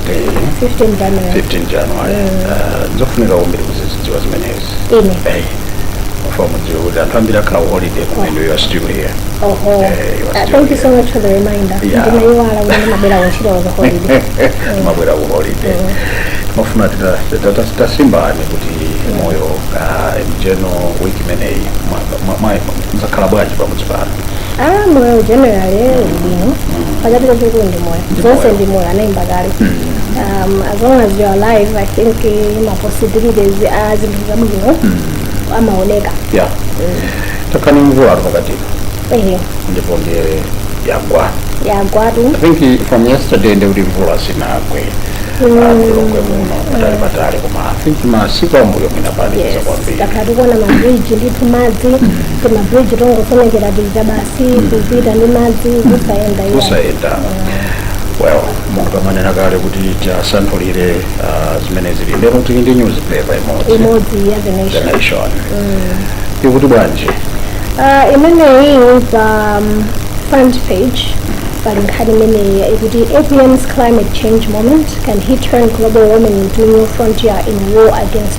15 January 15 january Ah, ndizofunika kwambiri kumazidziwa zimenezi ine Eh, timafuna mudziwe kuti anthu ambiri akhala ku holiday kumene you are still here oho Eh, you are Ah, still thank you so here. much for the reminder Yeah. ndinaiwala kuti ndimabwera kuntchito za holiday mwabwera ku holiday timafuna tasimbani kuti moyo ah, m'chiyeno wiki imeneyi mwa- mwa- mwa- muzakhala bwanji pamudzi pano Ah, moyo generally uli bwino chachikulu ndi moyo zonse ndi moyo anayimba kale um, as long as you are alive i think eh, ma possibilities a zinthu zabwino amaoneka ya takhala ndi mvula pakatipa ehe ndipo ndiye yagwa yagwatu i think from yesterday ndi kuti mvula sinagwe kulokwe muno patali patali koma i think masiku ambuyo mwina panali yes kwambiri takhala tikuona mabridge ndithu madzi timabridge tongosomekera tija basi kupita ndi madzi kusayenda iya kusayenda well monga mwanena kale kuti tisanthule ah, zimene zili lero tili ndi newspaper imodzi imodzi ya the the nation nation ikuti bwanji Ah, imeneyi pa um, front page pali nkhani imeneyi ikuti apm's climate change moment can he turn global warming into new frontier in war against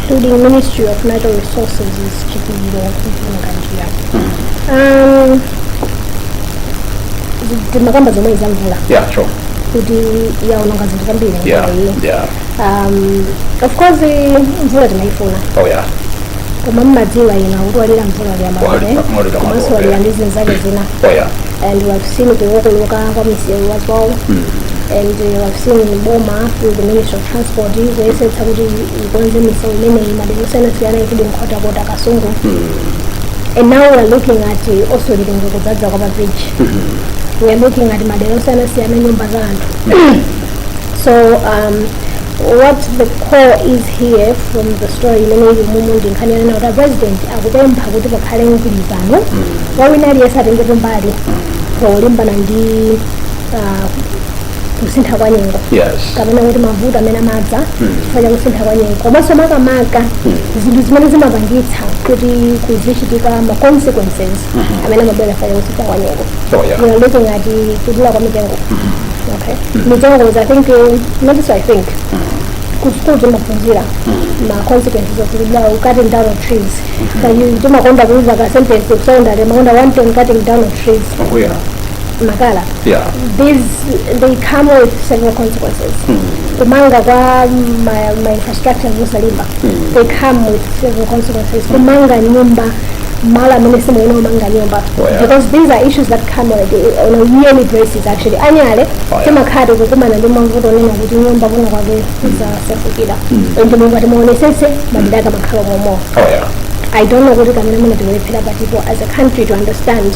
including Ministry of Natural Resources is Chipiliro Mpinganjira. Um, timakamba zomwezi za mvula yeah sure kuti yaononga zinthu zambiri yeah mvulayi. yeah Um, of course mvula timaifuna oh yeah koma mumadziwa ena kuti walira mvula Walira- walira liyamaae mvula, komanso yeah. walira ndi zinthu zake zina oh yeah and we have seen kukokoloka kwa misewu as well and uh, we have seen boma through the ministry of transport kuyesetsa kuti Ikonze misewu imeneyi madera osiyanasiyana kuli nkhotakota kasungu and now we are looking at uh, also Lilongwe kudzadza kwa mabridge we are looking at madera osiyanasiyana nyumba za anthu so um, what the core is here from the story imene ili mumu ndi nkhani yanena kuti apresident akupempha kuti pakhale mgwirizano wawina aliyense atengepo mbali polimbana ndi uh, kusintha kwa nyengo yes kapena kuti mavuto amene amadza chifukwa cha kusintha kwa nyengo komanso makamaka zinthu zimene zimapangitsa kuti kuzichitika ma consequences amene amabwera chifukwa cha kusintha kwa nyengo Oh, yeah. we are looking at the kudula kwa mitengo okay mitengo is i think eh, not so i think kusukulu timaphunzira ma consequences of kudula cutting down of trees Kaya timakonda kuuza ka sentence kusonyeza timakonda one time cutting down of trees oh yeah makala yeah. these they come with several consequences mm. kumanga kwa ma, ma infrastructures osalimba mm. they come with several consequences hmm. kumanga nyumba malo amene simuyenera kumanga nyumba oh, yeah. because these are issues that come on a, on a yearly basis actually annually oh, yeah. timakhala tikukumana ndi mavuto onena kuti nyumba kuno kwake kwasefukira hmm. hmm. ndipo ngati mutaonesese madera ake amakhala omwewo oh, yeah. I don't know what it is going to be for people as a country to understand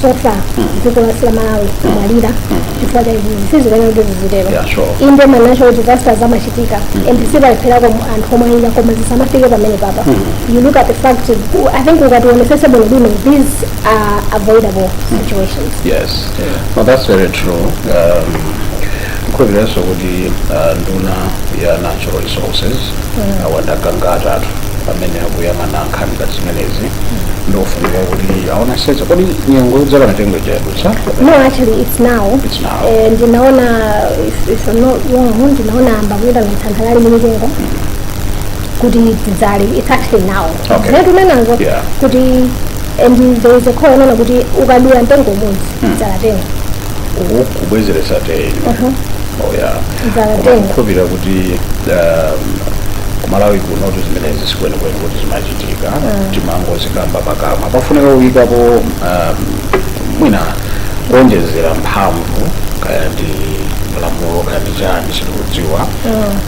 so far dziko lathu la malawi kumalira chifukwa cha izi izi sizikuyenera kuti zizitero Yeah, sure. inde ma natural disasters amachitika and sipalepherapo anthu omweyi ayi koma zisamafike pamenepapa you look at the fact i think ukati uwonesese bwino bwino these are avoidable situations yes no that's very true um, ndikhulupiriranso kuti uh, nduna ya natural resources a Gangata amene akuyang'ana nkhani ngati zimenezi ndofunika kuti aonesetse kodi nyengo yodzala mitengo yadutsa No, actually it's now. It's now. Eh, ndinaona if, if I'm not wrong, ndinaona ayamba kuitanitsa nthangala za mitengo kuti tidzale it's actually now. Okay. Zinthu zimenezo Yeah. kuti and there is a call yonena kuti ukadula mtengo umodzi dzala ten. uku kubwezeretsa ten Uh-huh. oh yeah Dzala ten. koma ndikukhulupira kuti um, ku Malawi kunotu zimenezi sikwenikweni kuti zimachitika zikuchitika timangozikamba pakamwa pafunika kuyikapo um, mwina kuonjezera mphamvu kaya ndi lamulo kaya ndi chani sitikudziwa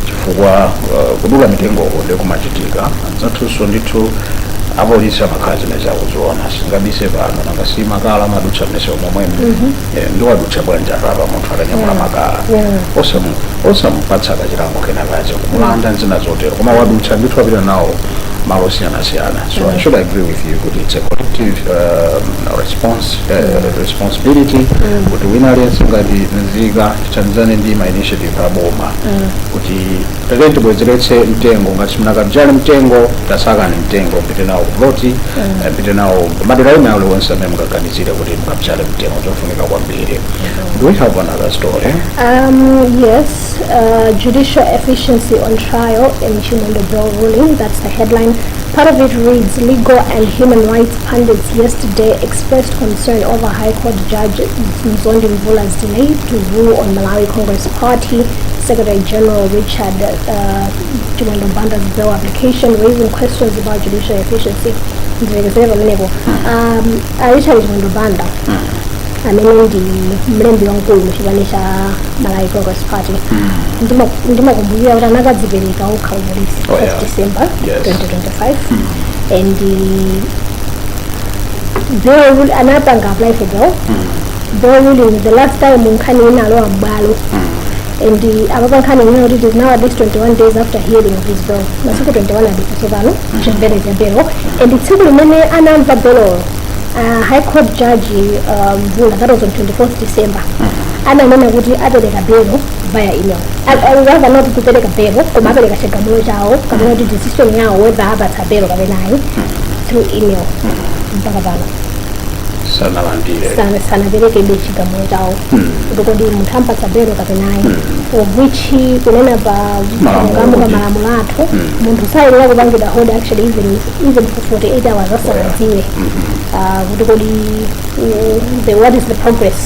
chifukwa uh, kudula mitengoko nde kumachitika anzathunso ndithu apolisi amakhala zimenezi akuziona sitingabise pano nanga si makala amadutsa m'misewu momwemo Eh, nde wadutsa bwanji apa apa munthu akanyamula makala Yeah. Osamu- osamupatsa kachilango kena kache kumulanda ndi zina zotero koma wadutsa ndithu apita nawo malo osiyanasiyana so i should agree with you kuti it's a collective um, response uh, responsibility kuti wina aliyense ngati nzika tithandizane ndi ma initiative a boma kuti Tatiyeni tibwezeretse mtengo ngati simunakabzale mtengo tasakani mtengo mpite nawo ku ploti eh, mpite nawo kumadera ena alionse amene mukaganizire kuti mukabzale mtengo chofunika kwambiri do we have another story Um, yes, uh, judicial efficiency on trial in Chimwendo bail ruling. That's the headline. Part of it reads Legal and Human Rights Pundits yesterday expressed concern over High Court Judge Mzondi Mvula's delay to rule on Malawi Congress Party Secretary General Richard uh, Chimwendo Banda's bail application, raising questions about judicial efficiency. Ndilekezere pamenepo. Um, uh, Richard Chimwendo Banda amene ndi mlembi wamkulu mu chipani cha Malawi Congress Party Ndima- ndimakumbukira kuti anakadzipereka okha kupolisi Oh, yeah. 1 December Yes. 2020 right and uh, bail rule- anapanga apply for bail bail ruling the last time nkhani inalowa m'bwalo and uh, apapa nkhani ina kuti it is now at least 21 days after hearing of his bail masiku 21 adutsa tsopano chimvereni bail and tsiku limene anamva bail uh, high court judge uh, mvula that was on 24th december ananena kuti apereka bail via email Al- al- rather not kupereka belo koma apereka chigamulo chawo kapena kuti decision yawo whether apatsa belo kapena ayi through email mpaka pano sanalandire sana- sanaperekebe chigamulo chawo kuti kodi munthu ampatsa belo kapena ayi of which kunena pa Malamulo chilungamo pa kuti- malamulo athu munthu sayenera kupangidwa hold actually even even for 48 hours asanadziwe ah, kuti kodi uh, the, what is the progress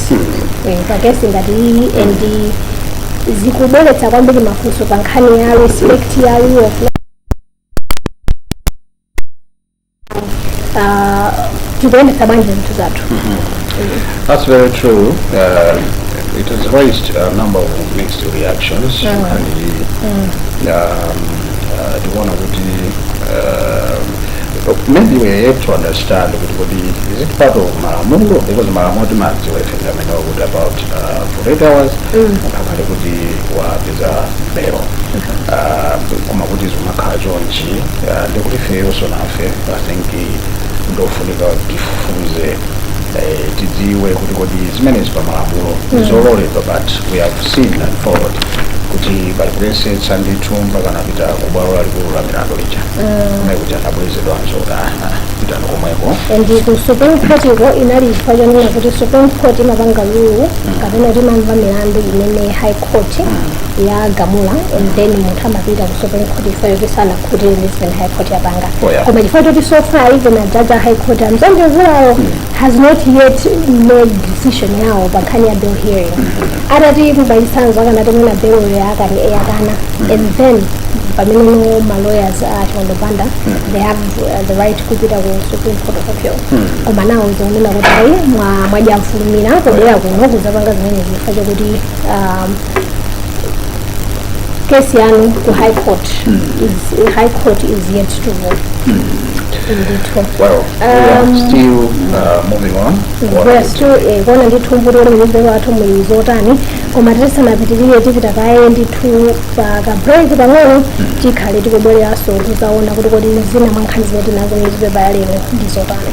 Eh, pa kesi ngati iyi and zikubweretsa kwambiri mafunso pa nkhani ya respect ya rule of law. Ah, tikuyendetsa bwanji zinthu zathu That's very true. Uh, it has raised a number of mixed reactions. And, um, uh, the one of the, uh, maybe we have to understand kuti kodi is it part of malamulo because malamulo timadziwa ife ndi amene akuti about uh, 48 hours munthu akhale kuti wapeza belo Uh, koma kuti zimakhala chonchi uh, ndi kuti ifeyonso nafe i think ndofunika tifufuze eh, tidziwe kuti kodi zimenezi pa malamulo zololedwa but we have seen and followed kuti pali kuyesetsa ndithu mpaka anapita kubwalo lalikulu la milandu lija kumene kuti anabwezedwanso kuti aha pitani komweko and ku supreme court iko inali chifukwa chonena kuti supreme court imapanga rule kapena kuti imamva milandu imene high court yagamula and then munthu amapita ku supreme court chifukwa choti sanakhutire ndi zimene high court yapanga Oh, yeah. koma chifukwa choti so far even ajaji a high court amzambevulawo has not yet made decision yawo pa nkhani ya bail hearing atati mwachitsanzo akanati mwina bail ya akati eyakana and then pamene no ma lawyers a Chimwendo Banda they have uh, the right kupita ku Supreme Court of Appeal koma nawo akunena kuti ayi mwa- mwadya mfulumira kubwera kuno kuzapanga zimene chifukwa chakuti um, kesi yanu ku high court is, high court is yet to rule ndithu Well, we are Um, still uh, moving on. What- we're still eh, kuona ndithu kuti kodi munyuzipepa athu muli zotani koma tisanapitirire tipita kaye ndithu pa ka break pang'ono tikhale tikubwereranso kuzaona kuti kodi zina mwa nkhani zimene tinazo munyuzipepa ya lero ndi zotani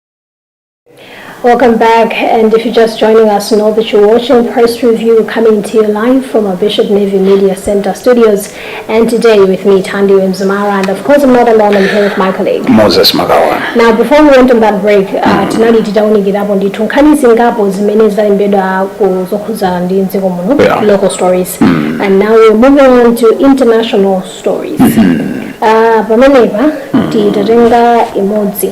Welcome back, and if you're just joining us, know that you're watching Press Review coming to you live from our Bishop Navy Media Center studios. And today with me, Tandy Mzumara, and of course I'm not alone, I'm here with my colleague. moses magawana Now, before we went on that break, uh, tinali titaonekerapo ndithu nkhani zingapo zimene zalembedwa ku zokhudzana ndi mdziko muno Yeah. local stories and now we're moving on to international stories uh, pamenepa titatenga imodzi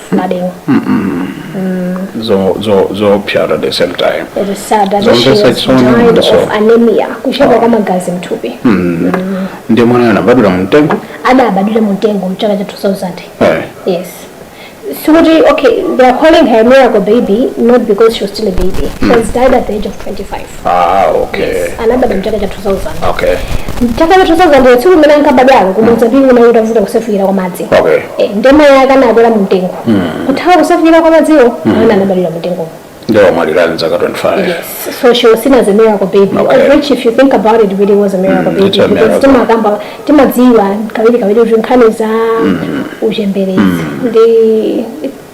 mademo mm. zo zo zo pure at the same time it is sad that she was died of anemia kushaba kama gazi mtupi mm. mm. ndio mwana anabadula mtengo ada abadula mtengo mchaka cha 2000 hey. Eh. yes so what do you, okay they are calling her miracle baby not because she was still a baby mm. she was died at the age of 25 Ah, okay. anabadwa mchaka cha 2000 Okay. mchaka cha 2000 tsiku limene ankabadwalo ku Mozambique kunali kutavuta kusefukira kwa madzi Okay. Eh, ndiye mayi ake anakwera mu mtengo kuthawa kusefukira kwa madziwo mwana anabadwira mu mtengomo Ndiye wamwalira ali ndi zaka 25. Yes. So she was seen as a miracle baby, Okay. of which if you think about it, really was a miracle Mm, baby. it's a because miracle. timakamba timadziwa kawiri kawiri kuti nkhani za uchembere ndi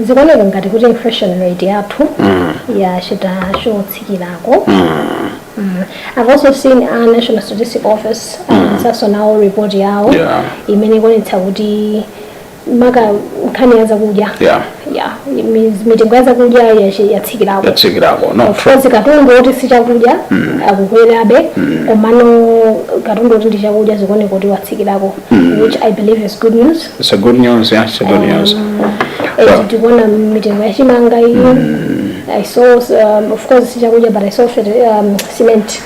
zikuoneka ngati kuti inflation rate yathu yachita chotsikirako Mm. I've also seen a National Statistic Office atulutsanso nawo report yawo Yeah. imene ikuonetsa kuti maka nkhani ya zakudya Yeah. yeah mi- mitengo ya zakudya yachi- yatsikirako yatsikirako no Of course, katundu oti si chakudya akukwerabe komano katundu oti ndi chakudya zikuoneka kuti watsikirako which i believe is good news It's a good news, yeah, it's a good news. Well, tikuona mitengo ya chimanga iyi i saw um, of course sichakudya but i saw ferti- um, cement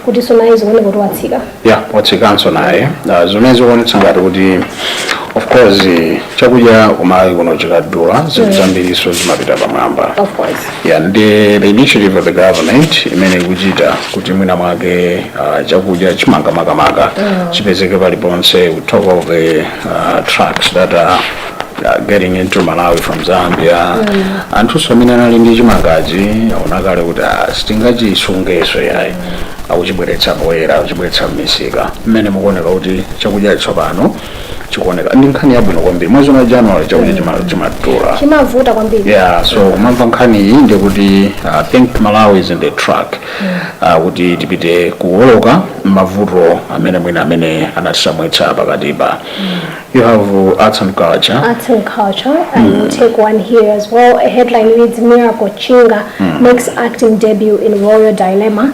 kuti tsopanoyi zikuoneka kuti watsika yeah, watsikanso naye uh, zimene zikuonetsa ngati kuti of course eh, chakudya kumalawi kuno chikadula zinthu zambiriso zimapita pamwamba of course ya ndiye the initiative of the government imene ikuchita kuti mwina mwake uh, chakudya chimanga makamaka chipezeke paliponse we talk of the uh, trucks that are uh, getting into malawi from zambia anthuso amene anali ndi chimangachi aona kale kuti ah, sitingachisungeso yayi akuchibweretsa poyera akuchibweretsa m'misika mmene zikuoneka kuti chakudya tsopano chikuoneka ndi nkhani yabwino kwambiri mwezi wa january chakudya chima- chimadula chimavuta kwambiri yeah so kumamva nkhani iyi ndi kuti uh, think malawi is in the track uh, kuti tipite kuwoloka mavuto amene mwina amene anatisautsa pakatipa you have uh, arts and culture Arts and culture, and we'll take one here as well. A headline reads Miracle Chinga makes acting debut in Royal Dilemma.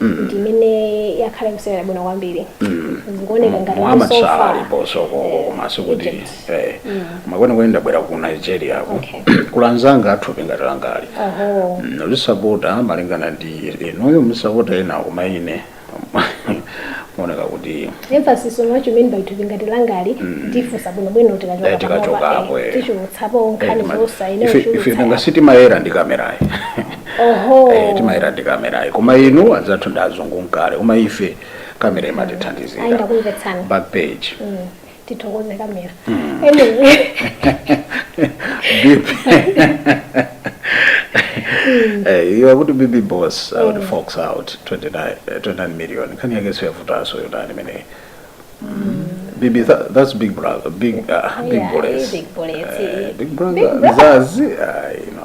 ndi imene yakhala ikusewera bwino kwambiri zikuoneka ngati kuti Muhammad so Salah far aliponso konko koma sikuti Egypt. eh, ma kwenikweni ndabwera ku nigeria ko Okay. kwa anzanga a thupi ngati langali oho Mm, ndisapota malingana ndi inuyo musapota enawo koma ine kuoneka kuti Emphasis on what you mean by thupi ngati langali ndifunsa bwino bwino tikachoka Eh, tikachoka panopa, apo, eh, eh. tichulutsapo nkhani zonse ine ife ife uchulutsa nanga sitimayera ndi kamerayi oho Eh, timayera ndi kamerayi koma inu anzathu ndi azungu nkale koma ife kamerayi imatithandizira ndakumvetsani back page tithokoze kamera Anyway. Eh, iwe kuti bb boss akuti fox out 29 eh, 29 million nkhani yake siyavutaso yodani imeneyi bb tha- that's big brother big ah, big Yeah, bullets big bullets, Eh, eh. big brother Big brother. mzazi ah, you know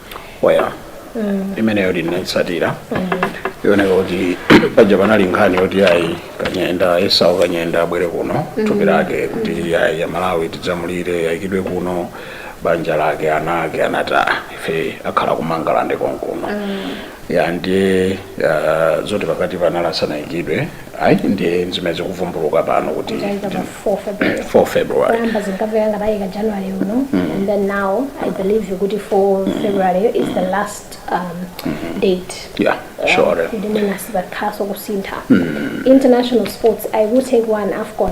waya imeneyo ndinaitsatira ioneka kuti paja panali nkhani yoti ayi kanyenda esau kanyenda abwere kuno thupi lake kuti ayi a Malawi tidzamulire yayi ayikidwe kuno banja lake ana ake anati "Ah, ife akhala kumangalande konkuno ya ndiye ah, zoti pakati panali asanayikidwe ayi ndi zimene zikuvumbuluka pano kuti Kutanza ndi- pa 4 February. 4 february Kuyamba zinkamveka ngati ayika January uno and then now I believe kuti 4 February is the last um, date. yeah sure Ndimene asipakhaso kusintha. International sports I will take one AFCON.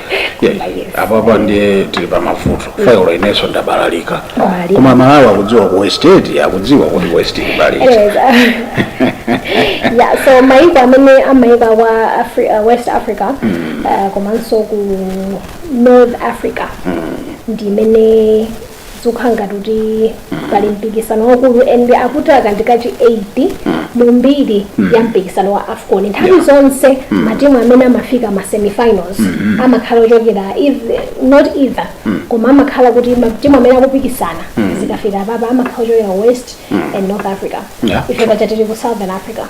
apapa ndiye tili pa mavuto failo inenso ndabalalika Balalika. koma malawi akudziwa ku west aid akudziwa kuti ku west aid balika yeah, so maiko amene amaika kwa Afri uh, west africa uh, komanso ku north africa ndi imene zikukhala ngati kuti pali mpikisano wakulu and akuti aka ndi kachi 8 mu mbiri ya mpikisano wa afcon nthawi zonse matimu amene amafika ma semifinals amakhala ochokera eith- not either koma amakhala kuti matimu amene akupikisana zikafika papa amakhala ochokera west and north africa Yeah. ife paja tili ku southern africa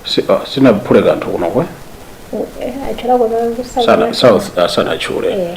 Si- ah, sinaphule kanthu kunokwe Eh, atchulako za ku Southern sana Africa. south ah, sanachule Eh.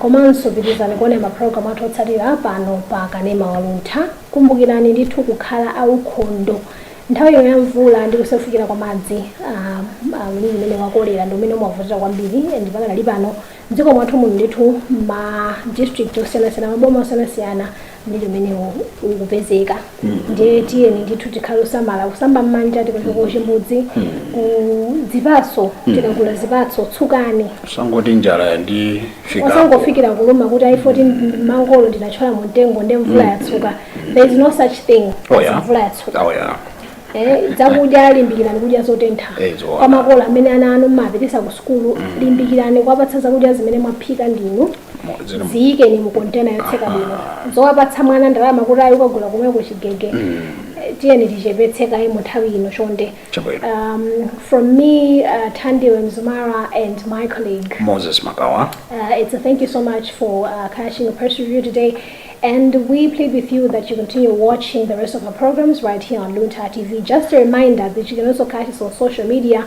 Komanso pitilizani kuonera ma program athu otsatira pano pa Kanema wa Luntha. Kumbukirani ndithu kukhala a ukhondo. Nthawi ino ya mvula ndi kusefukira kwa madzi, a mliri umene wa cholera ndi umene umavutira kwambiri and pakadali pano mdziko mwathu muno ndithu ma district osiyanasiyana, ma boma osiyanasiyana, mmene umenewo ukupezeka ndiye tiyeni ndithu tikhale osamala kusamba mmanja tikachoka kuchimbudzi kudzipatso tikagula zipatso tsukani usangoti njala ndi fikapo osangofikira kuluma kuti ayi 14 mangolo ndinatchola mu mtengo ndi mvula yatsuka there is no such thing Oh, yeah. as mvula yatsuka Oh, yeah. Eh, zakudya limbikirani kudya zotentha Eh, zoona. kwa makolo amene ana anu mmapitisa ku sukulu limbikirani kuwapatsa zakudya zimene mwaphika ndinu Mo- zili mu- ziyikeni mu kontena yotseka bwino zowapatsa mwana ndalama kuti ayi ukagula komweko chigege Eh, tiyeni tichepetse kaye mu nthawi ino chonde Chabwino. um, from me uh, tandile mzumara and my colleague moses makawa Uh, it's a thank you so much for uh, catching a press review today. And we plead with you that you continue watching the rest of our programs right here on Lunta TV. Just a reminder that you can also catch us on social media